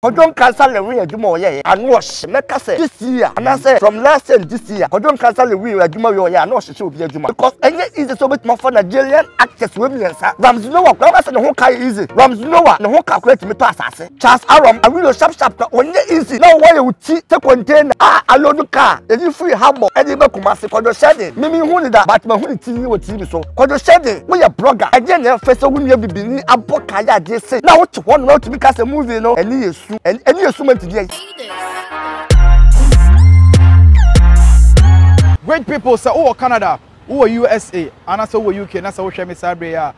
Kwadwo Nkansah Lewin adwuma a ɔyɛeɛ a na ɔhye, mɛka sɛ this year anaasɛ from last year and this year, Kwadwo Nkansah Lewin adwuma wei a ɔyɛeɛ a na ɔhyehyɛ obi adwuma because ɛnyɛ easy sɛ wobɛtumi afa Nigerian actors wei mmiɛnsa, Ramsey Nouah koraa mɛka sɛ ne ho ka yɛ easy, Ramsey Nouah ne ho ka koraa tumi tɔ asase, Charles Arom, Awilo Sharp Sharp koraa ɔnyɛ easy na ɔwɔ yɛ wo ti sɛ container a aloodu kaa, yɛyi firii Hamburg de ba Kumasi, Kwadwo Hyɛden, me menhu no da but mahu ne ti wɔ TV. biribi so. Kwadwo Hyɛde, woyɛ blogger. Ɛdeɛn na ɛfɛ sɛ wonua bibini abɔ kaa yɛ adeɛ sei na wote hɔ nom na wotumi ka sɛ movie no ani yɛ su. Ani yɛ su ma nti deɛn? Great people sɛ wowɔ Canada, wowɔ USA anaasɛ wowɔ UK na sɛ wohwɛ me saa berɛ yi a,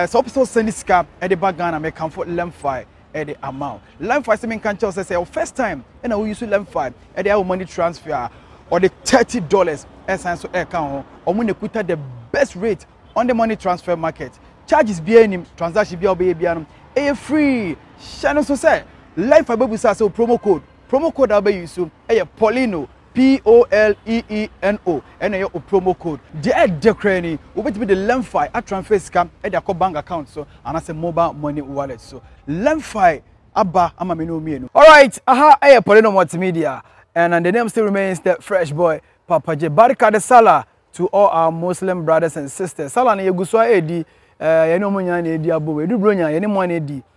sɛ wopɛ sɛ wo send sika de ba Ghana, mekamfo Lemfi. ɛde ama wo lemfi sɛ menka nkyɛw sɛ sɛ wo first time ɛna woyi so lemfi ɛde ayɛ wo money transfer a ɔde thirty dollars ɛsan so ɛka ho wɔn na ekuta the best rate on the money transfer market charges biara nim transaction biara ɔbɛyɛ biara no ɛyɛ free hyɛ no so sɛ lemfi bɛbusa sɛ promo code promo code a wobɛyi so ɛyɛ polino POLEENO ɛna ɛyɛ o promo code. Deɛ ɛdɛ koraa ni, wobɛtumi de Lemfi atransfer sika de akɔ bank account so anaasɛ mobile money wallet so. Lemfi aba ama me ne wo mmienu. Alright, aha yɛ Paulino Multimedia and the name still remains the Fresh Boy Papa J. Barika de Salah to all our Muslim brothers and sisters. Salah no yɛgu so ara ɛredi, eh, yɛne wɔn nyinaa na ɛredi abom. Ɛdu Buronya, yɛne mo a na ɛredi.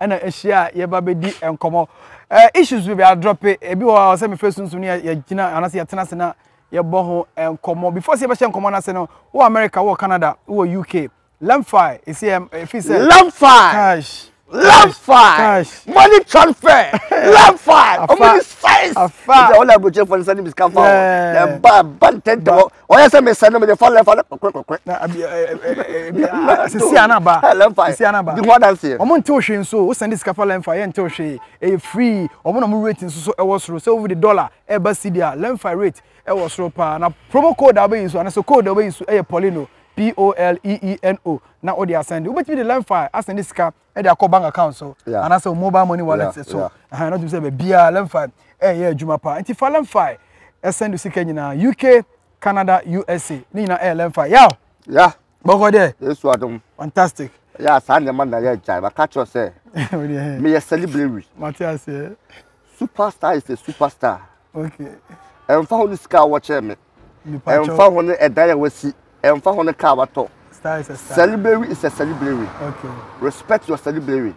ɛna ahyia a yɛba bɛdi nkɔmmɔ ɛɛ issues bebree adrɔpe ebi wɔ hɔ a ɔsɛ mefrɛ sunsun ne yɛgyina anaasɛ yɛtena ase na yɛbɔ ho nkɔmmɔ before sɛ yɛbɛhyɛ nkɔmmɔ no ase no wɔ america wɔ canada wɔ uk lamfi ɛsi yɛ ɛfi sɛ lamfi cash lamfi money transfer lamfi ɔmo ni size afa ɛsɛ ɔlɛ aburukyerɛ fɔ ne sani bisika fa o na ɛba ɛba ntɛntɛ wɔ. ɔyɛ sɛ mesɛ no mede fa lɛmfa no kɔkɔkɔkɔ na abi ebi asisi anaba lɛmfa asisi anaba di ho adanseɛ wɔn nte ohwe nso o sɛnde sika fa lɛmfa yɛ nte ohwe ɛyɛ free wɔn na wɔn rate nso so ɛwɔ soro sɛ wɔde dollar ɛba cedi a lɛmfa rate ɛwɔ soro paa na promo code a wɔbɛyi nso anasɛ code a wɔbɛyi nso ɛyɛ polino p-o-l-e-e-n-o na wɔde asɛnde wobɛtumi de lɛmfa asɛnde sika ɛde akɔ bank account so anaasɛ wɔn mobile money wallet so ɛhan na tumi sɛ baabiara lemfi ɛyɛ adwuma paa nti fa lemfi ɛsɛn do sika nyinaa uk canada usa ne nyinaa ɛyɛ lemfi yaw ya bɔkɔ dɛ yesu adum fantastic ya saa nneɛma na yɛ agya ba ka kyerɛ sɛ meyɛ celebrity mate aseɛ superstar is a superstar okay ɛmfa ho ne sika a wɔkyerɛ me ɛmfa ho no ɛdan a wasi ɛmfa ho no kaa watɔ celebrary is a celebrary respect your celebrary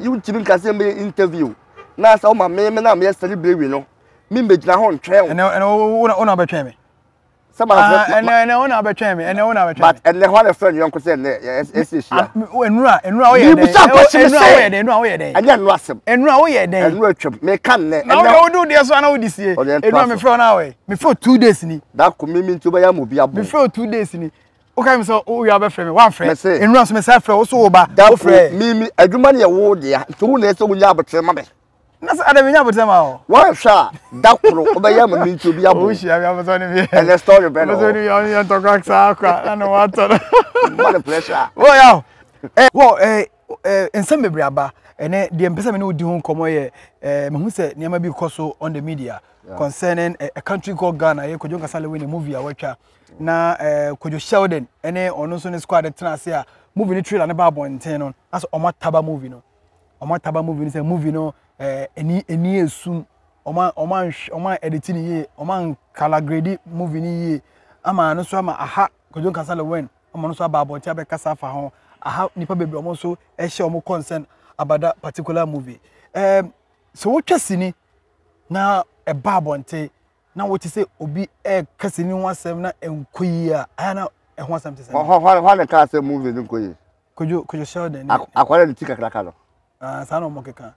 wontumi nka sɛ mɛyɛ interview na sɛ woma me me na meyɛ celebrary no memmɛgyina hɔ ntwɛn wo wona wobɛtwɛn me sɛ ma ah, ɛnɛ ɛnɛ wona wobɛtwɛn me ɛnɛ wona wobɛtwɛn me but ɛnɛ hɔ a na fɛn yɔnko sɛ ɛnɛ ɛsɛ ehyia enura enura woyɛ dɛ bisa kɔsi mi sɛ enura woyɛ dɛ ɛnyɛ enura sɛm enura woyɛ dɛ enura twɛm mɛ kan nɛ ɛnɛ na wode wode deɛ so ana wode sie enura mi fɛ ɔna awɛ me fɛ two days ni. na ko mi mi nti wobɛyɛ ama obi abɔ. me fɛ two days ni o ka mi sɛ o wia bɛfrɛ mi wamfrɛ enura so mi sɛ afrɛ o so o ba o frɛ. mi mi adwuma ni ɛwo deɛ nti wo na ɛsɛ wo nya abotire ma mi. na sɛ adama nya abotire ma o. wɔnhwɛ a da koro wobɛyɛ ama mi nti obi abɔ. o hyia mi abotire ni bi. ɛnɛ story bɛ na o. abotire ni bi ɔni yɛ ntɔkwa saa akwa ɛna wɔn atɔ no. mma ne pressure. wɔ ya o. wɔ ɛɛ ɛɛ nsɛm bebree aba ɛnɛ deɛ mpɛsɛ mi ni o di ho nkɔmɔ yɛ ɛɛ mehu sɛ nneɛma bi kɔ so on the media. yeah. concerning a, a country called Ghana. Ɛyɛ Kojo Nkasale wɔ ne movie a watwa na uh, eh, Kojo Sheldon ɛne ɔno nso ne squad tena ase a movie ne trailer ne ba abɔnten no asɛ ɔmo ataba movie no ɔmo ataba movie no sɛ movie no ɛɛ ɛni ɛni esum ɔmo ɔmo anhwɛ ɔmo ɛditi ne yie ɔmo ankala gredi movie ne yie ama ano nso ama aha Kojo Nkasale wɛn ɔmo nso aba abɔnten abɛkasa afa ho aha nipa bebree ɔmo nso ɛhyɛ ɔmo concern about that particular movie ɛɛ so wotwa sini. na ɛba abɔnten na wote sɛ obi ɛka sini ho asɛm na ɛnkɔ yie a ɛyɛ na ɛho asɛm te sɛ no. Hɔ hɔ hɔ na ɛka sɛ movie no nkɔ yie. Kojo Kojo Sheldon ne Akwadaa ne ti kakraka no. ah, saa na wɔn keka.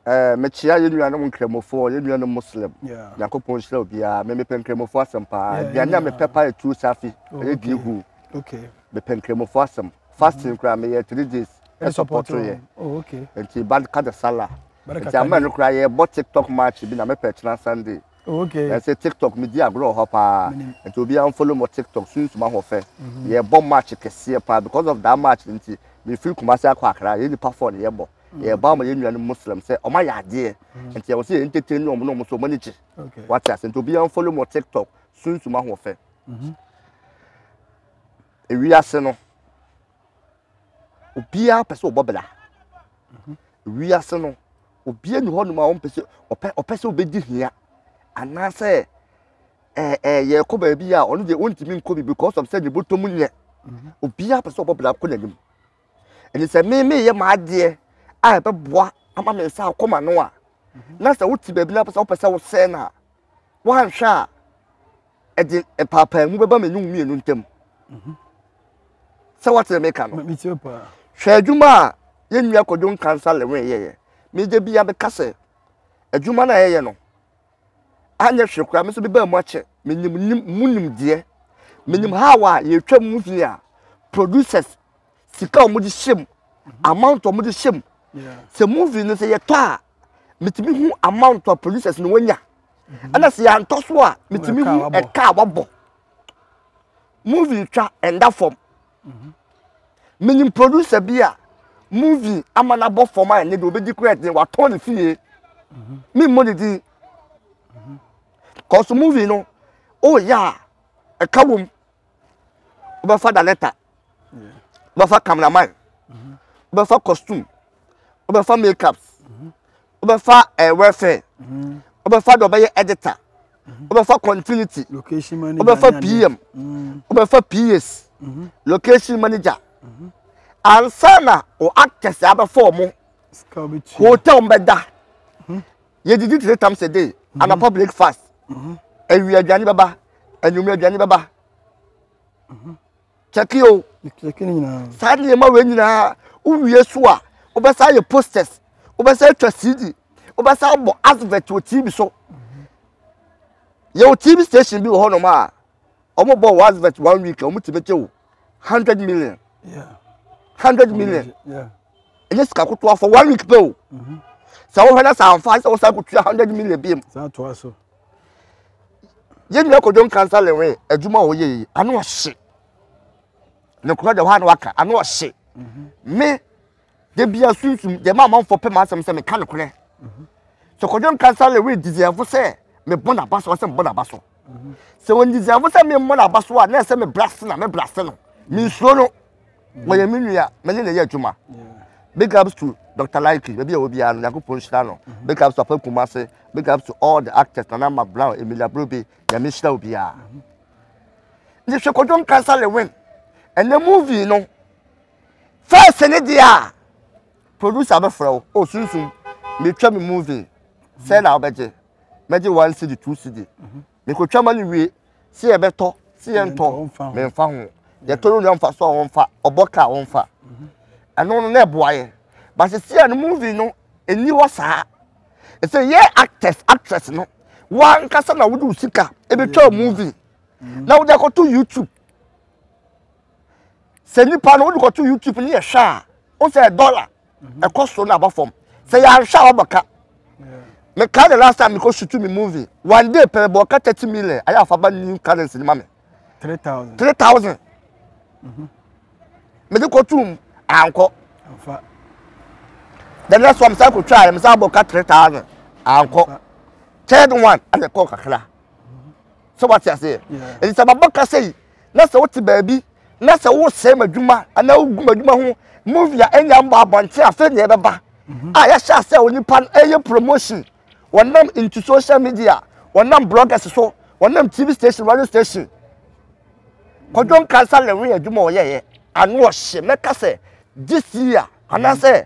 Ɛɛ mekyia yɛn nuanom nkramofoɔ, yɛn nuanom Muslim. Yeah. Nyankopɔn nhyira obiara. Me mepɛ nkramofoɔ asɛm paa. Yeah, Aduane a yeah. mepɛ paa yɛ tuo safi, Oh, ɛyɛ okay. diihu. Okay. Mepɛ nkramofoɔ asɛm. Fasting koraa meyɛ three days. Ɛde ɛsɔpɔto support yɛ. wɔn. Oh, okay. Nti ba ka de sala. Nti ama no koraa yɛbɔ tiktok match bi na mepɛ kyena Sunday. Oh, okay. Na sɛ tiktok medi agorɔ wɔ hɔ paa. Nti obiara mfollow mo tiktok sunsum ahoɔfɛ. Mhm. Yɛbɔ match kɛseɛ paa because of that match nti mefiri Kumasi akɔ Accra yɛn nipa four na yɛbɔ. Mm. Yɛba ama yɛn nuanom Muslim sɛ ɔma yɛ adeɛ. Mm. Nti yɛwɔ sɛ yɛn entertain ne ɔmo na ɔmo so ɔmo ani gye. Wate ase nti obiara mfollow mo tiktok sunsum ahoɔfɛ. Mhm. Ewiase no. obiara pɛ sɛ ɔbɔ bra wiase no obiara ni hɔnom a ɔmpɛ sɛ ɔpɛ ɔpɛ sɛ ɔbɛdi hia anaasɛ ɛɛ eh, ɛɛ eh, yɛkɔ baabi a ɔno deɛ ɔntumi nkɔ bi because of sɛ ne bɔtɔ mu nyɛ mhm. obiara pɛ sɛ ɔbɔ bra kɔ n'anim ɛne sɛ me meyɛ m'adeɛ a ɛbɛboa ama me nsa akɔ ma no a mhm. na sɛ wote baabi na wopɛ sɛ wosɛe no a woanhwɛ a ɛde mpaapaamu bɛba me ne wo mmienu ntam sɛ woatene meka no hwɛ adwuma a yɛn nua kɔdwo nkansa lewe yɛyɛ mede bia bɛka sɛ adwuma no a yɛyɛ no anyɛ hwɛ koraa me nso bɛbaa mu akyɛ menim mu nimdeɛ menim ha a yɛtwa mu hini a producers sika a wɔn de hyɛ mu amount a wɔn de hyɛ mu sɛ movie no sɛ yɛtɔ a metumi hu amount a producers no wɔnya mhm. ɛna sɛ yɛantɔ so a metumi hu ɛka a wɔabɔ movie twa ɛnda fam mhm. menim producer bi a movie ama no abɔ fam a ɛne deɛ ɔbɛdi kura ɛdeɛ watɔn ne fie mhm. me mmɔ ne din kɔso movie no ɔreyɛ a ɛka wɔ mu wobɛfa dalɛta wobɛfa cameraman wobɛfa costume wobɛfa makeup wobɛfa eh, welfare wobɛfa deɛ ɔbɛyɛ editor wobɛfa continuity wobɛfa pm wobɛfa ps location manager ansa na o actors abɛfa ɔmo hotel mbɛda yɛdidi three times a day mhm. anapa breakfast mhm. awia aduane bɛba anwummerɛ aduane bɛba mhm. kyɛke o saa nneɛma wei nyinaa wowie so a wobɛsa yɛ posters wobɛsa atwa cd wobɛsa abɔ advert wɔ tv so yɛwɔ tv station bi wɔ hɔnom a wɔbɔ wɔ advert one week a wɔtumi gye wo hundred million hundred million ɛnyɛ sika kotoa for one week pɛ o mhm. sɛ wohwɛ na sɛ amfa sɛ wosan kotua hundred million biam yɛn nyina kɔdwom kansa lewe adwuma a wɔyɛ yi ano ɔhye ne korɔ deɛ hɔ a na waka ano ɔhye mhm. me da biara sunsum deɛ ɛma amanfoɔ pɛ m'asɛm sɛ meka nokorɛ sɛ kɔdwo nkansa lɛ woyɛ diziɛfo sɛ mebɔ n'aba so ɔsɛ mebɔ n'aba so sɛ wɔn diziɛfo sɛ memmɔ n'aba so a na ɛsɛ mebra se na mebra se no mensuro no wɔyɛ me nua mene ne yɛ adwuma big ups to dr likely baabi a wɔ biara no nyankopɔn nhyira no big ups to apa kuma ase big ups to all the actors nana ma brown emilia brobe nyame nhyira wo biara ne hwɛ kɔdwo nkansa lɛ win ɛnɛ movie no first ne deɛ a producer bɛfrɛ wo o sunsum metwa me movie sɛ na wobɛgye mɛgye one cd two cd mekɔtwa ma no wie sɛ yɛbɛtɔ sɛ yɛntɔ memfa ho yɛtɔ no nua mfa so a wɔmfa ɔbɔ ka a wɔmfa ɛno no na ɛboa yɛ but sisi a no movie no ɛni hɔ saa ɛsɛ yɛ actors actress no wankasa na wode wo sika ɛbɛtwa movie na wode akɔto youtube sɛ nipa no wode kɔto youtube ne yɛhwɛ a wo sɛ dɔla mhm. ɛkɔ soro na aba fam sɛ yɛanhwɛ a wɔbɛka meka the last time mekɔ sutu me movie one day pɛrɛ bɔ ɔka thirty million ayɛ afa ba new currency ne ma me three thousand three thousand mhm. mede kɔtum ankɔ the next one mesa kɔtwa ayɛ mesa bɔ ka three thousand ankɔ third one ɛna ɛkɔ kakra mhm. sɛ wate aseɛ ɛnti sɛ mabɔ ka sɛ yi na sɛ wote baabi na sɛ wosɛe m'adwuma anaa wogu m'adwuma ho movie a ɛnya mbɔ abɔnten afei nea ɛbɛba mhm. a yɛhyɛ asɛ onipa no ɛyɛ promotion wɔnam into social media wɔnam bloggers so wɔnam tv station radio station kɔdwo nkansa lɛwe adwuma ɔyɛyɛ ano ɔhye mɛka sɛ this year anaasɛ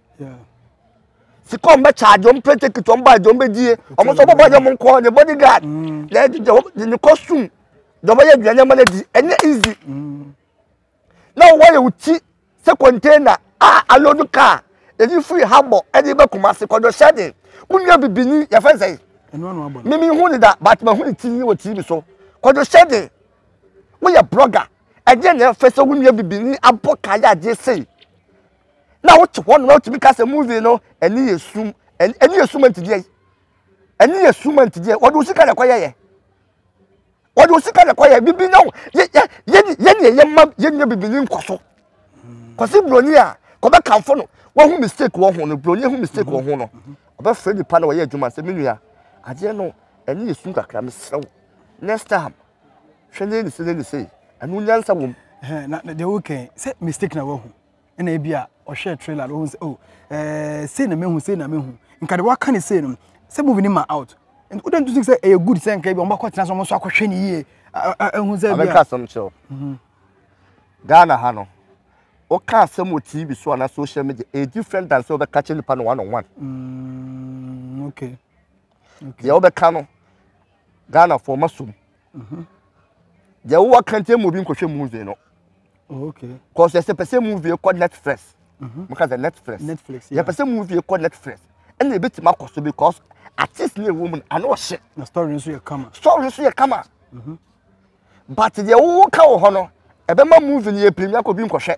sika wɔn bɛ charge wɔn plane ticket wɔn bag wɔn bɛ die wɔn nso bɔbɔ yɛ wɔn nkɔ ne body guard na ɛdi jɛ wɔn ne costume na wɔn yɛ aduane ama na di ɛnyɛ easy na wɔn yɛ wɔn ti sɛ container a alodo car ɛdi firi hambo ɛdi bɛ kuma se kɔdɔ hyɛden mo nua bibini yɛ fɛn sɛ mimi hu ne da but ma hu ne ti yi wɔ tv so kɔdɔ hyɛden mo yɛ blogger ɛdi yɛ na ɛfɛ sɛ mo nua bibini abɔ kaa yɛ adeɛ sɛyi. na wote hɔ na wotumi ka sɛ movie no ɛne yɛ sum ɛne yɛ sum ntideɛ ɛne yɛ sum ntideɛ wɔde wo sika na ɛkɔyɛ yɛ wɔde wo sika na ɛkɔyɛ bibi na wo yɛ yɛ yɛ yɛ deɛ yɛ mma yɛ nyɛ bibi ne nkɔ so kɔsi buroni a kɔbɛ kanfo no wɔhu mistake wɔ ho no buroni ehu mistake wɔ ho no ɔbɛfrɛ nipa na wɔyɛ adwuma sɛ me nua adeɛ no ɛne yɛ sum kakra mesrɛ wo next time hwɛ ne ne se ne ne se ɛno nyansa wɔ mu. na deɛ wokɛn sɛ mistake na wahu ɛna ebi a ɔhwɛ trailer no ohun sɛ oh ɛɛ sei na mehu sei na mehu nka de waka ne sei no sɛ movie no ma out o de ntutu sɛ ɛyɛ good sɛ nka ebi wɔn bɛkɔ tena so wɔn nso akɔhwɛ ne yie ɛhu sɛ bi a. abɛka asɛm kyerɛw mhm. ghana ha no woka asɛm wɔ tv so anaa social media ɛyɛ different than sɛ wobɛka kyerɛ nipa no one on one mm, okay. deɛ wobɛka no ghanafoɔ ma som Mhm. Deɛ wowɔ kɛntɛn mu obi nkɔhwɛ movie no. Oh, okay. Cause yɛsɛ pɛ sɛ movie kɔ Netflix. Mhm. Moka sɛ Netflix. Netflix. Yɛpɛ sɛ movie kɔ Netflix. Ɛna ebetumi akɔ so because artist ne ɛwɔ mu no ano ɔhyɛ. Na story nso yɛ kama. Story nso yɛ kama. Mhm. But deɛ wowɔ ka wɔ hɔ no ɛbɛma movie no yɛ pirinya kɔ bi nkɔhwɛ.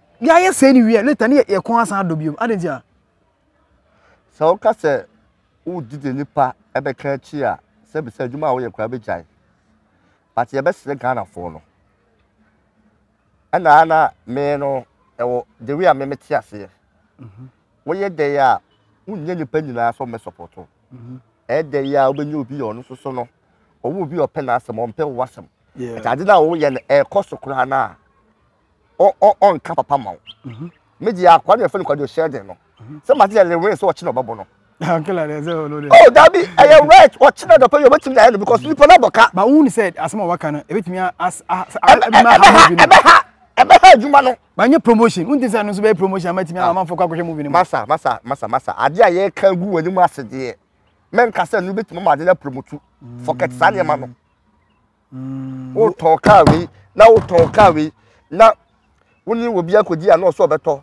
Yɛ ayɛ sɛɛ ne wie later ne yɛ yɛ kɔn asan adɔ bio adi nti a. Sɛ woka sɛ wogye deɛ nipa ɛbɛka akyi a sɛbisa adwuma a woyɛ koraa bɛgyae but yɛbɛsrɛ Ghanafoɔ no ɛna a na me no ɛwɔ the way a me mete aseɛ woyɛ dɛn a wonyɛ nipa nyinaa sɛ ɔmɛ support wo ɛyɛ dɛn yɛ a wobɛnya obi yɛ ɔno soso no ɔwɔ obi a ɔpɛ n'asɛm ɔmpɛ wo asɛm ɛtɛ ade no a woyɛ no ɛkɔ so koraa no a ɔnka papa ma wo mhm. megye akoa no yɛfɛ no kwadwo hyɛ den no mhm. sɛ mate yɛ lewen sɛ ɔkye na ɔbɛbɔ no ah, oh, dabi ɛyɛ right ɔkye na dɔpɛ yɛ ɔbɛtumi ayɛ no because nipa no abɔka ba wohu ne sɛ asɛm a waka no ɛbɛtumi ɛbɛha ɛbɛha adwuma no banyɛ promotion wonti sɛ no nso bɛyɛ promotion amatumi ah. amanfoɔ kɔ akɔhwɛ movie no mu masa masa masa masa adeɛ a yɛka gu w'anim ase deɛ mɛnka sɛ no bɛtumi ma ade no apromotu mm. fɔkɛt saa nneɛma no mm, wotɔn kaa wei na wotɔn kaa wei na wo ne obi akɔdi a na ɔsɛ ɔbɛtɔ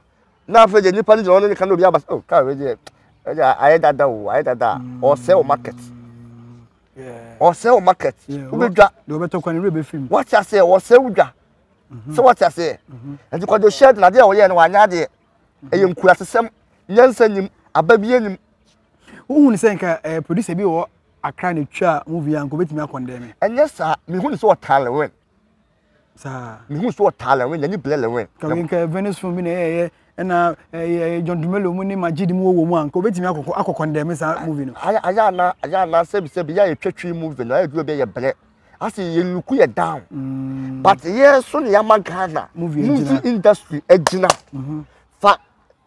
na afei deɛ nnipa no gyina hɔ no ne ka na obi aba sɛ oh, kaa wei deɛ ɛdeɛ ayɛ dada o ayɛ dada a mm. ɔsɛ wo market ɔsɛ wo market wobɛdwa wate aseɛ ɔsɛ wo dwa mhm. sɛ wate aseɛ mhm. ɛnti kɔdo hyɛ de nadeɛ a wɔyɛ no wanyɛ adeɛ mhm. ɛyɛ nkurasesɛm nyansa nim aba bie nim Wohu no sɛ nka eh, producer bi wɔ Accra na etwa movie a nka obetumi akɔndɛn me. Ɛnyɛ saa, mehu no sɛ ɔtaa Lewin. Saa. Mehu sɛ ɔtaa Lewin, n'ani blɛ Lewin. Kawe nka Venice film bi na ɛyɛ ɛna ɛyɛ John Dumelo mu ne Majid mu wɔ mu a nka obetumi akɔkɔ akɔkɔndɛn me saa movie no. Ayɛ ayɛ ana ayɛ ana sɛbi sɛbi yɛ ayɛ twɛtwi movie no ayɛ duro bi yɛ blɛ. Ase yɛ nuku yɛ down. Mm. But yɛ so ne yɛ ama Ghana movie industry agyina. Mm -hmm.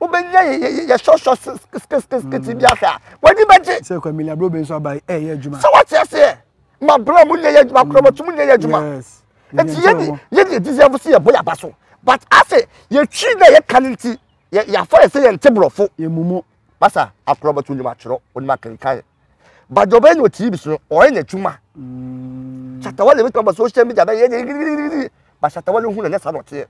wobɛnya yɛ sɔsɔ skitskitskit bi ahwɛ a w'ani bɛgye sɛ kwamila bro bi nso aba ɛyɛ eh, adwuma sɛ wote aseɛ ma bro mu nyɛ yɛ adwuma korɔ bɛtum nyɛ yɛ adwuma nti yɛne yɛne ɛdizɛfo sɛ yɛbɔ yɛaba so but ase yɛtwi na yɛka no nti yɛafa yɛ sɛ yɛnte borɔfo yɛmumu basa akorɔ bɛto nim atwerɛ onim akenkan but deɛ ɔbɛyɛ ne ɔtiri bi so no ɔyɛ n'adwuma shatawale bɛtumi aba social media bɛyɛ ne bashatawale hu na nyɛ saa na ɔteɛ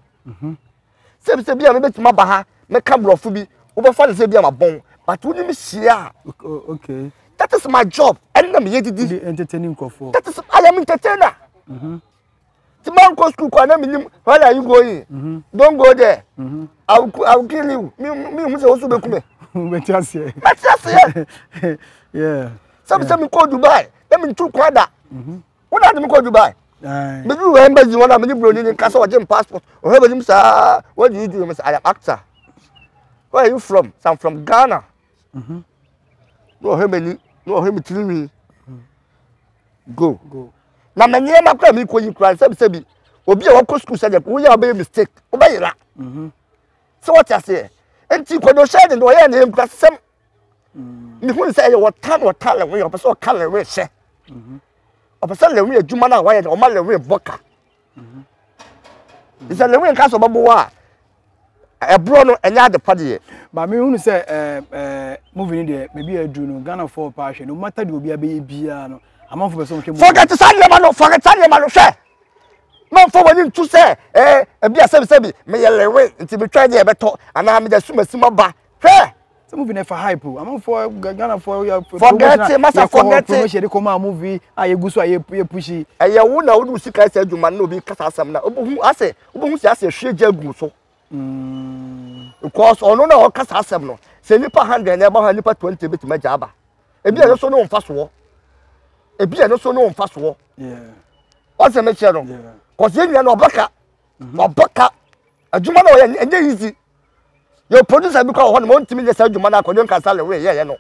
sɛ ebi sɛ bi a mebɛtumi aba ha mɛka borɔfo bi wobɛfa no sɛ bi a mabɔn but wonim hyia a okay that is my job ɛne na meyɛ didi entertaining nkurɔfoɔ that is I am entertainer mm -hmm. ti ma nkɔ school kɔ a na menim where are you going mm -hmm. don't go there mm -hmm. I, will, I will kill you me me hu sɛ wosu bɛku me mɛte aseɛ mɛte aseɛ sɛ mesɛ mekɔ Dubai na mentu kwan da mm -hmm. wo na de me kɔ dubai mede wɔ embassy hɔ na mede buroni ne kasa ɔgye m passport ɔhwɛ bɛnim saa where do you do me sɛ i am actor where are you from sɛ i'm from ghana mm-hmm. na ɔhwɛ m'ani na ɔhwɛ me tirinwi go na ma nneɛma kora mi kɔ yi kora sɛbi sɛbi obi a wɔkɔ sukuu sɛdeɛ woyɛ a wobɛyɛ mistake wobɛyera mm-hmm. sɛ wɔte aseɛ nti kɔdɔ hyɛ de na ɔyɛ ne nkura sɛm mm. mehu ne sɛ ɛyɛ wɔta na wɔta lɛwe ɔpɛ sɛ ɔka lɛwe hyɛ mm-hmm. ɔpɛ sɛ lɛwe adwuma no a wayɛ no ɔma lɛwe bɔ ka mm-hmm. sɛ lɛwe nka sɛ ɔbɛboa a ɛborɔ no ɛnyɛ ade pa deɛ ba mehunu sɛ eh, eh, movie no deɛ baabi a aduru no ghanafoɔ paa hwɛ no mata deɛ obi abɛyɛ biara no amanfo bɛ sɛ wɔhwɛ mu. fɔkɛte saa nneɛma no fɔkɛte saa nneɛma no hwɛ mɛnfɔ wɔn ani ntu sɛ ɛɛ ebi asɛbisɛbi meyɛ lewe nti metwa deɛ ɛbɛtɔ anaa mede asum asim aba hwɛ sɛ movie no ɛfa hype o amanfoɔ ghanafoɔ yɛ fɔgɛte masa fɔgɛte promotion de kɔma movie a yɛgu so a yɛpushi ɛyɛ wo na wode wo sika sɛ adwuma no na obi kasa asɛm na wobɛhu asɛ wobɛhu sɛ asɛ hwie gya gu so mm. because ɔno na ɔkasa asɛm no sɛ nipa hundred na ɛba hɔ a nipa twenty bɛtumi agya aba ebi ɛno so ne ɔmfa soɔ ebi ɛno so ne ɔmfa soɔ ɔsɛ mekyerɛ no kɔsɛ yɛn nyina na ɔbɛka ɔbɛka adwuma na ɔyɛ ɛnyɛ easy Your producer bi kɔ wɔ hɔ nom ɔntumi nyɛ saa adwuma no akɔ deɛ nka sale wei yɛyɛ no.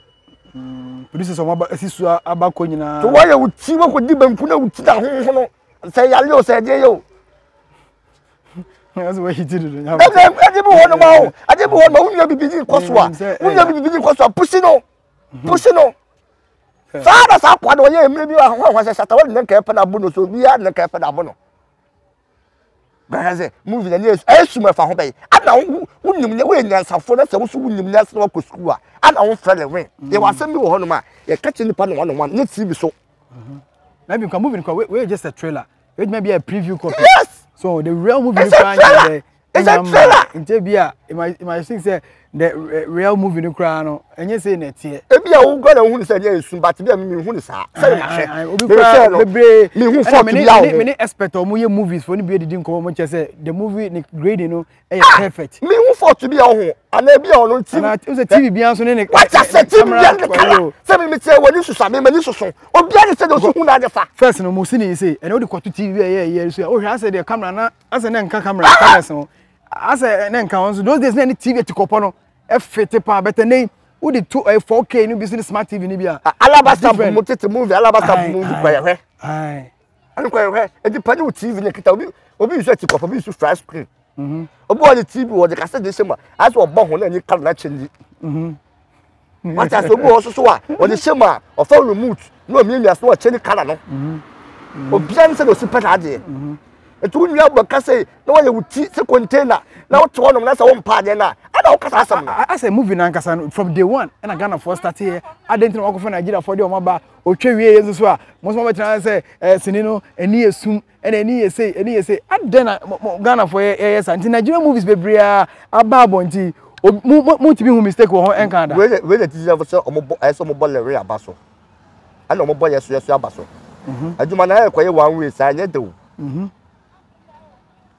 Mm, producers ɔmo aba esi so aba kɔ nyinaa. To wɔyɛ wo ti wɔ kɔ di banku na wo ti da ho no sɛ yale o sɛ ɛdeɛ yɛ o. Ɛsɛ wɔ hiti dodo nyama. Ɛdɛ ɛde bi wɔ nom awo ɛde bi wɔ nom wunua bibi di kɔ so a wunua bibi di kɔ so a pusi no mhm. pusi no. Saa na saa kɔ na wɔyɛ emire bi ahɔn ahɔn sɛ sata wɔde ne nka ɛpɛ na abo no so obiara ne nka ɛpɛ na abo no. bɛhwɛ sɛ movie na ne ɛsum ɛfa ho bɛyɛ ana wo wo nim ne woyɛ nyansafo na sɛ woso wo nim ne asena wakɔ sukuu a ana wo mfrɛ ne wen mm. yɛ wasɛm bi wɔ hɔnom a yɛka kyerɛ nipa no wɔn wɔn ne tv so. Mm-hmm. na ebi nkwa movie nkwa wey just a trailer edwuma bi a preview copy. yes so the real movie nkwa nyɛ dɛ. it's a trailer. nkyɛn bi a my sing sɛ the eh, real movie no koraa no ɛnyɛ sɛ na ɛteɛ. ebi a wo nkɔ na ohun sɛ ɛyɛ nsu but bi a mi hun saa sɛ na hwɛ obi koraa no bebree mi hun fɔt bi a wɔn. mi ni expert a wɔn yɛ movies fo ni bi edidi nkɔmɔ wɔn kyɛ sɛ the movie ni grading no ɛyɛ ah, perfect. mi hun fɔt bi a wɔn ana ebi a wɔn ti. ana sɛ tv bi nso ne ne. wata sɛ tv bi ne kala sɛ mi mi tiɛ wɔ ni susa mi ma ni soso obi a ni sɛ de o ti hun na de fa. first no mo si ni se ɛna o de kɔtu tv bi a ɛyɛ ɛyɛ so a o hwɛ asɛ de camera na asɛ na nka camera cameras ho asɛ na nka wɔn so those days na ne tv atikɔpɔ no ɛfete paa bɛtɛ ne wode to ɛyɛ 4k no bi so ne smart tv no bi a alabasta mu tete movie alabasta mu movie kɔ yɛhwɛ ɛno kɔ yɛhwɛ ɛdi pa ne wo tv ne kita obi obi nso atikɔpɔ obi nso fry screen mhm. obi wɔ ne tv wɔ de kasɛ de hyɛ mu a asɛ ɔbɔ ho na ani kala na kyɛn di wata sɛ obi wɔ soso a ɔde hyɛ mu a ɔfa remote na ɔmiamia so ɔkyɛ ne kala no mm-hmm. obiara ne sɛ na ɔsi pɛ saa adeɛ mm-hmm. nti wo nua bɔ kasa yi na wɔyɛ wo ti sɛ container na wote hɔnom na sɛ wompaa adeɛ no a ɛna wokasa asɛm no asɛ movie no ankasa no from day one ɛna ghanafoɔ starteɛ adɛn nti na wɔakɔfa nigeriafoɔ deɛ ɔmaba ɔtwa wie yɛ nso so a mo nso mobɛtena sɛ sini no ɛni yɛ sum Ɛna ani yɛ sei, ani yɛ sei. Adɛn na mo, mo Ghanafoɔ yɛ, yɛyɛ saa? Nti Nigerian movies bebree a aba abɔnten yi, obi, mo, mo, motumi hu mistake wɔ ho ɛnka da. Wei yɛ, wei yɛ titirafo sɛ wɔn bɔ, ɛyɛ sɛ wɔn bɔ lere aba so, ɛna wɔn bɔ yɛso yɛso aba so. Adwuma no ayɛ kɔyɛ one way saa, ɛnyɛ dɛ o.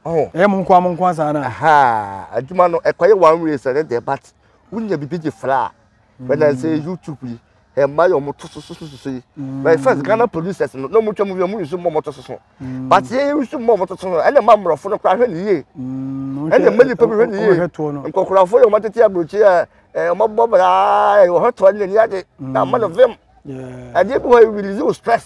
Ɔho. Ɛyɛ mo nkoa mo nkoa saa na. Aha, adwuma no ɛkɔyɛ one way saa, ɛnyɛ dɛ, but wonya biribi de fra a, wɛn na sɛ YouTube yi, mmaa yɛ wɔn to soso soso yi na yɛ fɛs ghana producers no na wɔn twɛ mu yɛ wɔn nsu mu wɔn to soso but yɛ nsu mu wɔn to soso ɛna mma mmorɔfo no kora hwɛ ne yie ɛna mma nipa bi hwɛ ne yie nkɔkorafo yɛ wɔn atete aburokyi yɛ ɛɛ wɔn abɔ braa yɛ wɔn hwɛ toɔ ne ne yɛ de na ama no vim ɛdeɛ bi hɔ yɛ release stress.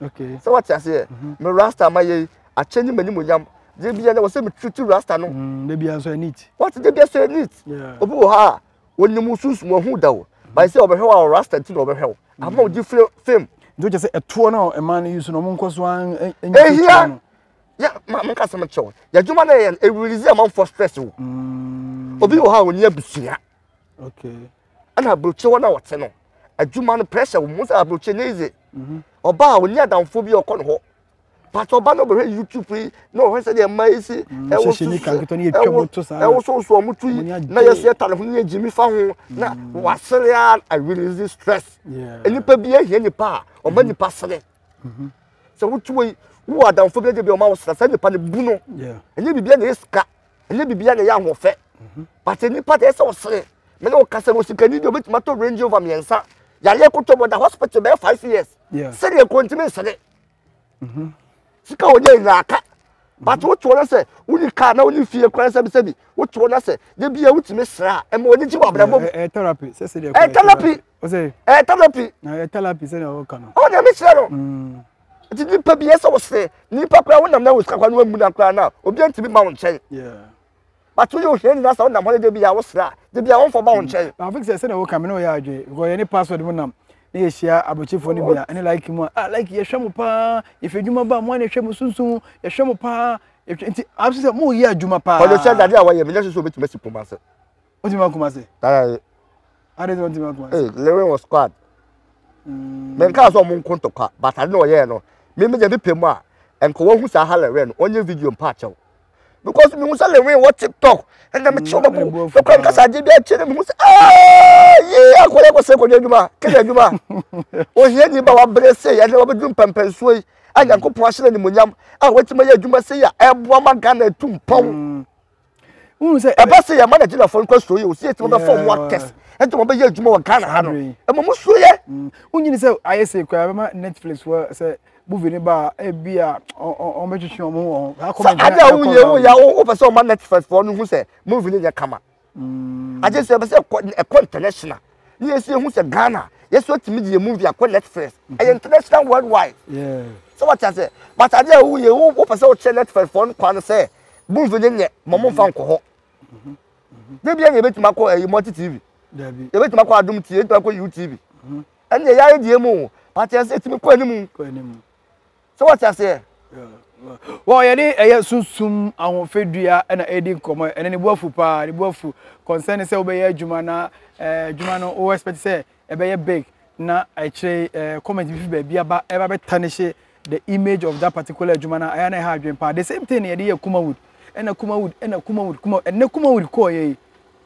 sɛ wate aseɛ me rasta ma yɛ akyɛ ne m'anim onyam deɛ bia na wɔ sɛ metutu rasta no mm, wate deɛ bia sɛ neat obi wɔ ha a wɔnim sunsum ɔhu da o bae sɛ ɔbɛhwɛ wo a rasta nti na ɔbɛhwɛ wo mm. ama wogye firi fam nti wokyɛ sɛ ɛtoɔ no a ɛma no yi so no ɔmonkɔ so ɛhia menka sɛ mekyɛ wo yɛadwuma no yɛ ɛrelease amanfoɔ stress o mm. obi wɔ ha a ɔni abusua ɛna aburokyi hɔ na wɔte no adwuma no pressure wɔn mu sɛ aburokyi ne yize mhm. ɔbaa a onye adanfo bi ɔkɔ ne hɔ pàtó ɔbaa na ɔbɛhwɛ youtube yi na ɔhwɛ sɛ deɛ mmaa yi si mm, ɛwɔ susu ɛwɔ ɛwɔ soso ɔmo tu yi na yɛ so yɛ ta ne ho ne yɛ gyimi fa ho na mm. wasere a i release stress nipa bi ehia nipa a ɔma mm-hmm. nipa sere mm-hmm. sɛ wotu yi wo adanfo bi ɛdi bi ɔma wɔ sere sɛ nipa ne bu no ɛnyɛ bibi ɛna esika. ɛnyɛ biribiara na ɛyɛ ahoɔfɛ pate nipa de ɛsɛ ɔsere me ne ɔkasa wɔ sikani deɛ ɔbɛtumi atɔ range over mmiɛnsa yareɛ kotɔ bɔ da hospital bɛyɛ five years sɛdeɛ kuro ntumi nsere mm-hmm. sika ɔnyɛ nyinaa aka pate wotoɔ no sɛ woni kaa na woni fie kwan sɛbisɛbi wotoɔ no sɛ da bia wotumi sra ɛma ɔne gye wɔ abrabɔ mu ɛyɛ therapy ɛyɛ therapy ɛyɛ therapy ɔne mekyerɛ no mm. Nti nipa bi ɛsɛ ɔsɛ nipa koraa wonam na wosika koraa na wamu na koraa na obi ntumi ma wo nkyɛn. But woyɛ ohia nyina sɛ wonam hɔ ne de bia wosra a de bia wɔmfa ba wo nkyɛn. Na afik sɛ sɛ na woka me na ɔyɛ adwene because yɛne password mu nam na yɛhyia abrokyefoɔ no bia ɛne like mu a ah like yɛhwɛ mo paa yɛfɛ adwuma ba mo a na ɛhwɛ mo sunsun yɛhwɛ mo paa nti afik sɛ mo yɛ adwuma paa. Ɔno sɛ dade a wɔyɛ menyɛ so sɛ obɛtumi asi poma sɛ. O ti ma kuma se. Tara ye. Ade sɛ o ti ma kuma se. Ee lere wɔ squad. Mm. Mɛ nka sɛ ɔmo nko ntɔkwa but ade na ɔyɛɛ no. Me me gya bi pɛ mu a nka wɔhu saa ha lere no ɔnyɛ video mpa akyɛw. Because me hu sɛ lere wɔ TikTok ɛna me kyɛw bɛko. Bɛkɔ nka sɛ agye bi akyɛ na me hu sɛ aaa yee akɔyɛ kɔ sɛ kɔdwa adwuma kɛdɛ adwuma. Ohia ni ba wabrɛ sɛ yɛ na wɔbɛduru mpɛmpɛnsoɔ yi a Nyankopɔn ahyɛ no animonyam a wɔatumi ayɛ adwuma sɛ yɛ a ɛboa ma Ghana atu mpɔn. Mm. wohu sɛ ɛba sɛ yɛma nagyinafoɔ no kwasuo yɛ osie nti wɔbɛfa ɔmo akɛse ɛnti wɔn bɛyɛ adwuma wɔ ghana ha no ɛma mo suo yɛ wonyini sɛ ayɛ sɛ kura bɛma netflix wɔ sɛ movie no ba a ebi a wɔn bɛtwitwi wɔn ho wɔn ho sɛ ade a woyɛ woyɛ a wopɛ sɛ wɔma netflix foɔ no hu sɛ movie no yɛ kama agye sɛ ɛbɛ sɛ ɛkɔ international ne yɛn nso yɛhu sɛ ghana yɛn nso atumi de yɛn movie akɔ netflix mhm. ɛyɛ international worldwide sɛ wɔte ase but adeɛ a woyɛ wopɛ sɛ wokyerɛ netflix fɔ no kwa no sɛ movie no nyɛ ma momfa mhm. nkɔ hɔ mhm. ne bia na yɛbɛtumi akɔ ɛyi multi tv yɛbɛtumi akɔ adom tv yɛbɛtumi akɔ yiw tv ɛne yɛyɛ ayɛ deɛ mu o but yɛn sɛ ɛtumi kɔ anim sɛ wɔte aseɛ. Wɔ yɛde ɛyɛ sunsum ahofadua na ɛredi nkɔmmɔ ɛne ne bu afu paa ne bu afu concern sɛ wobɛyɛ adwuma na eh, adwuma no wo expect sɛ ɛbɛyɛ big na ɛkyerɛ eh, comment bi fi baabi aba ɛba bɛta ne hye the image of that particular adwuma no ɛyɛ na ɛha adwene paa the same thing na yɛde yɛ kumawood ɛna kumawood ɛna kumawood kuma ɛnɛ kumawood kɔɔ yɛ yi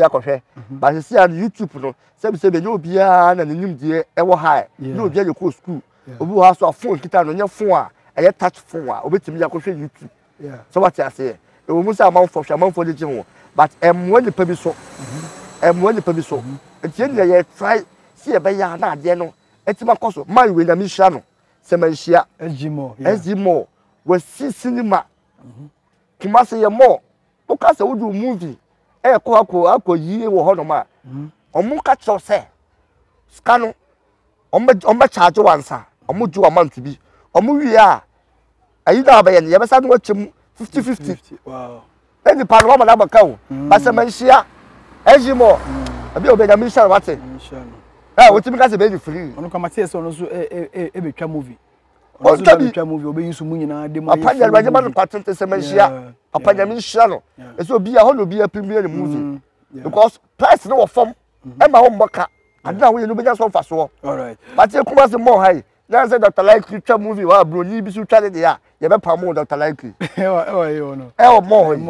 akɔhwɛ ba sisi a no youtube no sɛbi sɛbi ɛnyɛ obiara na n'anim deɛ ɛwɔ ha ɛ nyɛ obiara na ɛkɔ sukuu obi wɔ ha so a phone kita no nyɛ phone a ɛyɛ touch phone a obetumi akɔhwɛ youtube sɛ wate aseɛ ɛwɔ mu sɛ amanfoɔ hwɛ amanfoɔ de gye ho but ɛmmoa nipa bi so ɛmmoa nipa bi so nti yɛn nyinaa yɛ try si yɛ bɛyɛ a na adeɛ no ɛtumi akɔ so maa yɛ nyame nhyira no sɛ ma nhyia ɛgyi mɔ ɛgyi mɔ wɔ si sinima kumase yɛ mɔ. Woka sɛ wode wo movie ɛkɔ akɔ akɔ yie wɔ hɔnom a, wɔn ka kyerɛw sɛ sika no wɔn bɛ wɔn bɛ charge wɔn ansa, wɔn gye wɔn amount bi, wɔn wie a ayi na abɛyɛ no yɛbɛsa no akyɛ mu fifty fifty. Ne nipa no wɔn na abɛka o, mm. basɛ mɛ nhyia ɛyi mɔ mm. ebi a obi ɛnyame nhyia no wate. Ɛ wotumi ka sɛ bɛyɛ free. Ɔno kama sɛ yɛ sɛ ɔno nso ɛbɛtwa movie. ɔno nso bɛtwa mu bi ɔbɛyi nso mu nyinaa de mu ayɛ fun ɔpanyɛ ma no paten te sɛ mɛnhyia ɔpanyɛ me nhyia no ɛsɛ obi a hɔ na obi apim bi yɛ ne movie mm, because price no wɔ fam mm. ɛma wɔn mmɔ ka ade na woyɛ no wobɛnya so mfasoɔ pate kuma se mmɔ ha yi na sɛ dr likely twa movie wɔ a buroni bi so twa ne deɛ a yɛbɛpa mo dr likely ɛwɔ mɔ hɔ yi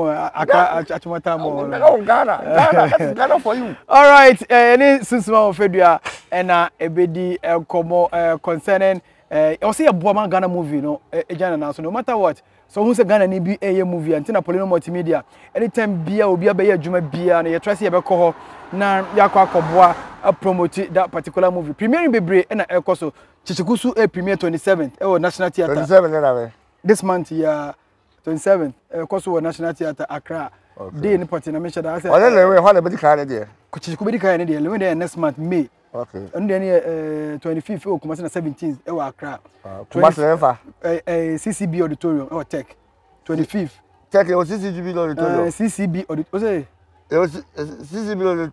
ghana ghana that is ghana for you all right ɛne eh, sunsuma wɔ fɛ dua ɛna ɛbɛdi nkɔmmɔ eh, concerning eh, ɔsɛ yɛboa ma ghana movie no eh, ɛgya ne nan so no matter what so wohu sɛ ghana ni bi ɛyɛ movie a nti na polino multimedia anytime bia obi abɛyɛ adwuma biara no yɛtra sɛ yɛbɛkɔ hɔ na yɛakɔ akɔboa apromote that particular movie premiering bebree ɛna ɛkɔ so kyekyeku so eh, premier 27th ɛwɔ national theatre 27 ne na bɛ this month yɛ twenty seven ɛkɔ so wɔ national theatre accra dee ne pɔte na mehyɛ da sɛ ɔne lewe hɔ na bɛdi kan ne deɛ kyekyeko bɛdi kan ne deɛ lewe deɛ next month may ɛno deɛ ne yɛ twenty fifth ɛwɔ kumase na seventeen ɛwɔ accra ah, kumase ne nfa ccb auditorium ɛwɔ tech twenty fifth tech ɛwɔ ccb auditorium ccb auditorium ccb auditorium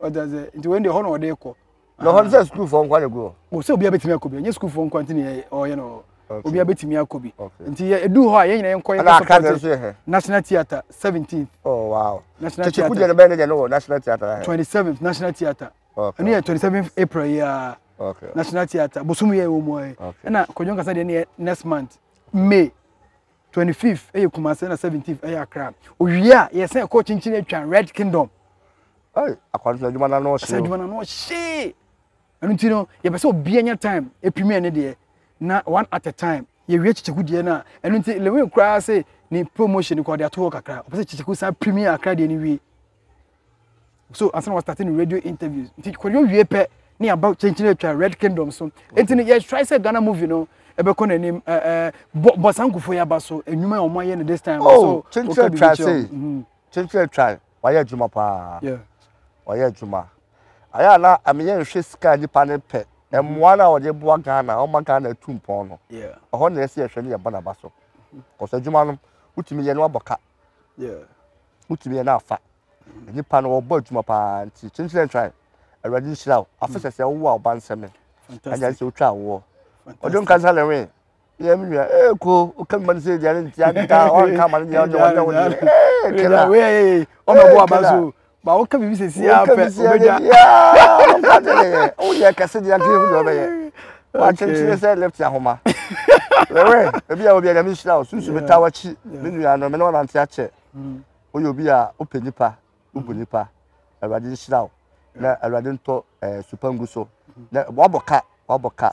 ɔte ase nti wɔn deɛ hɔ na ɔde kɔ. na hɔ no sɛ sukuufoɔ nkwa na gu hɔ. o sɛ obiara bɛtumi akɔ bi ɛnyɛ sukuufoɔ nkwa nti na ɔyɛ no obiara bɛtumi akɔ bi nti edu hɔ a yɛn nyinaa nkɔ yɛn kɔ sɔpɔte national theatre seventeen. oh wow national theatre tete kudiɛ no bɛyɛ ne deɛ no wɔ national theatre ahɛ. twenty seventh national theatre ɛno yɛ twenty seventh april yi a national theatre bosom yɛ wɔ mu ayɛ ɛna kɔdwɔn kasa deɛ no yɛ next month may. twenty fifth ɛyɛ kumase na seventeenth ɛyɛ akra owie a yɛsɛn ɛkɔ kyinkyin atwa red kingdom. ɛy akwantuo adwuma na ano ɔhyee. adwuma na ano ɔhyee ɛno ti no yɛpɛ sɛ obiara nya time epimi ɛne deɛ na one at a time yɛwie kyekyɛku deɛ no a ɛno nti lewin koraa se ne promotion no kɔ ɔde ato hɔ kakra ɔpɛ sɛ kyekyɛku san pimi akra deɛ no wie so ansa na wɔstate no radio interviews nti kɔdwo wie pɛ ne aba kyenkyene atwa red kingdom so nti no yɛtrae sɛ ghana movie no ɛbɛkɔ n'anim bɔ saa nkufo yɛ aba so nnwuma a wɔayɛ no this time so kyenkyene atwa se kyenkyene atwa wɔayɛ adwuma paa wɔayɛ adwuma ayɛ a na ameyɛ nhwɛ sika nipa ne pɛ mmoa no a wɔde boa ghana ɔma ghana atu mpɔn no ɛhɔ na ɛsɛ yɛhwɛ ne yɛbɔ n'aba so kɔsɛ adwuma no wotumi yɛ no abɔ ka Wotumi yɛ na afa. Nnipa no wɔbɔ adwuma paa nti kyenkyene ntrae. Awurade nhyira wo. Afe sɛ sɛ wowo a ɔba nsɛm me. Ɛnyɛ sɛ wotwa awoɔ. Ɔde wo nkasa na wee. Yɛ me nua. Ee ko woka me ma no sɛ deɛ ne nti anka ɔnka ama no deɛ ɔnyɛ ɔnyɛ wo deɛ. Ee kela. Ɔmɛbɔ aba so. ba wo ka bibi sɛ si ara pɛ wobɛgya woyɛ kɛse deɛ nka yɛhu deɛ wobɛyɛ wakyenkyene sɛ left ahoma wewe ebi a obi a nyame nhyira wo susu meta wakyi me nua no me ne ɔnante akyɛ mm. woyɛ obi a wopɛ nipa wobu mm. nipa awurade nhyira wo na awurade ntɔ eh, supa ngu so na wabɔ ka wabɔ ka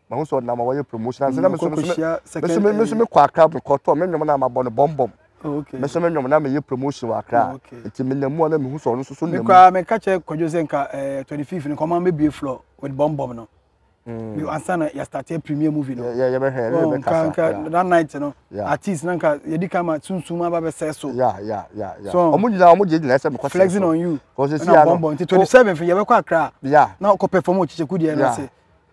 mahu sɛ ɔnam a wɔyɛ promotion ansa na mm, meso mekɔ akra mekɔtɔ me nnwom no a mabɔ no bɔmbɔm meso me nnwom no a meyɛ promotion wɔ akra nti menam mu a na mehu sɛ ɔno nso so nam mu meka kyerɛ kwadwo sɛ nka 25 eh, no kɔma mɛbie flɔ with bɔmbɔm no mm. ansa na yɛstarteɛ premier movie no oh, nka that night no artist na nka yɛdi ka ma sunsum aba bɛsɛ so ɔmo nyinaa ɔmo gye nyinaa sɛ mekɔ flexing on you na bɔmbɔm nti 27 fo yɛbɛkɔ akra na ɔkɔ perform ɔkyekyɛku deɛ no ase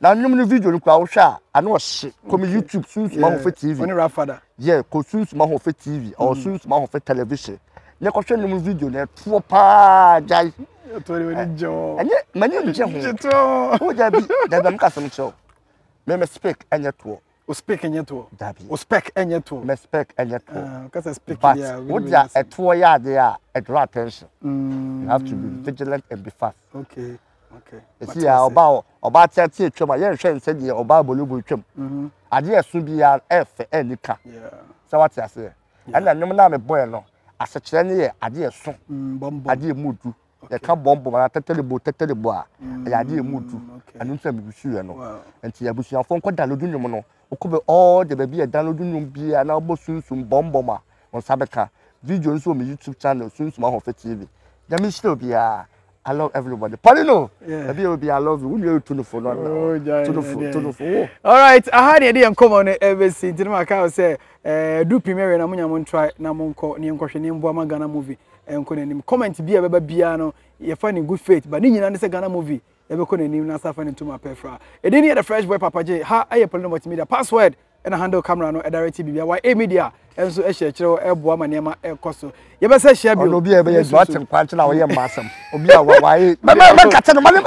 Na nnwom no video no koraa wohwɛ a ano ɔhye kɔ me YouTube Sunsum Ahoɔfɛ TV. Ɔne Rafada. Yeah, kɔ Sunsum Ahoɔfɛ TV or mm. Sunsum Ahoɔfɛ television. Ne kɔhwɛ nnwom no video na ɛtoɔ paa gyae. Ɛtoɔ de wani gye ho. Ɛnyɛ mani ngye ho. Gye toɔ. Wo dabi dabi amka asɛm kyerɛw. Me me speak ɛnyɛ toɔ. o spek nyɛ toɔ dabi o spek nyɛ toɔ mɛ spek nyɛ toɔ ah, kasa spek but wo dia ɛtoɔ yɛ adeɛ a ɛdraw attention mm. you have to be vigilant and be fast okay okay esi ya ɔba o ɔba ati ati atwam a yɛn hwɛ nsɛ deɛ ɔba abolobo atwam mm-hmm. adeɛ ɛso bi ya ɛfɛ ɛni ka sɛ wate aseɛ ɛna nnwom naa mi bɔ yɛ no asekyerɛ ne yɛ adeɛ ɛso mm, adeɛ mu du. Yɛka bɔn bɔn anaa tɛtɛrebo tɛtɛrebo a, ɛyɛ ade a emu du. Ɛno nti na misusuiɛ no. Nti abusuafoɔ nkɔ dalodu nnwom no. Wokɔ bɛ all the baabi a dalodu nnwom biara na wɔbɔ Sunsum bɔm bɔm a, wo nsa bɛka. Video no nso wɔ me YouTube channel, Sunsum Ahoɔfɛ TV. Nyame nhyira obiara. I love everybody. Paulino! Baabi a ɛwɔ biara I love you. Wo nua yɛ Tonofo no anaa? Oh, gyae no Tonofo, deɛ. Tonofo, wo. Alright, aha na yɛde yɛn nkɔmmɔ no ɛbɛsi. Nti na maka wo sɛ, eh, du pii mɛwɛ na monya mo ntrae na monkɔ ne yɛnkɔhwɛ ne mmoa ma Ghana movie Ɛnkɔ n'anim. Comment bi a ɛbɛba biara no, yɛfa no in good faith. But ne nyinaa ne sɛ Ghana movie ɛbɛkɔ n'anim na asa afa ne ntoma pɛ fra. Ɛdin ne yɛ The Fresh Boy Papa J. Ha ɛyɛ Polino Multimedia. Password ɛna handle camera no ɛdirect biribiara. YA Media ɛnso ɛhyɛ kyerɛw ɛboa ma nneɛma ɛkɔ so. Yɛbɛsɛ hyia bio. Ɔno obi a ɛbɛyɛ adwuma akyere kwa akyere a ɔyɛ mma asɛm. Obi a wawae. Mɛmɛ mɛka kyɛ no ma ne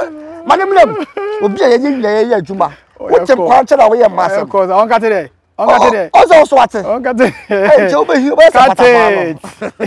ma ne mmerɛ mu. Obi a yɛyɛ nyina yɛyɛ adwuma. Wote kwa akyere a ɔyɛ mma asɛm. Ɛkɔ sɛ ɔnkate dɛ. Ɔnkate dɛ. Ɔsɛ ɔso ate. Ɔnkate. Ɛnkyɛ wobɛhi wobɛyɛ sɛ patapaa no.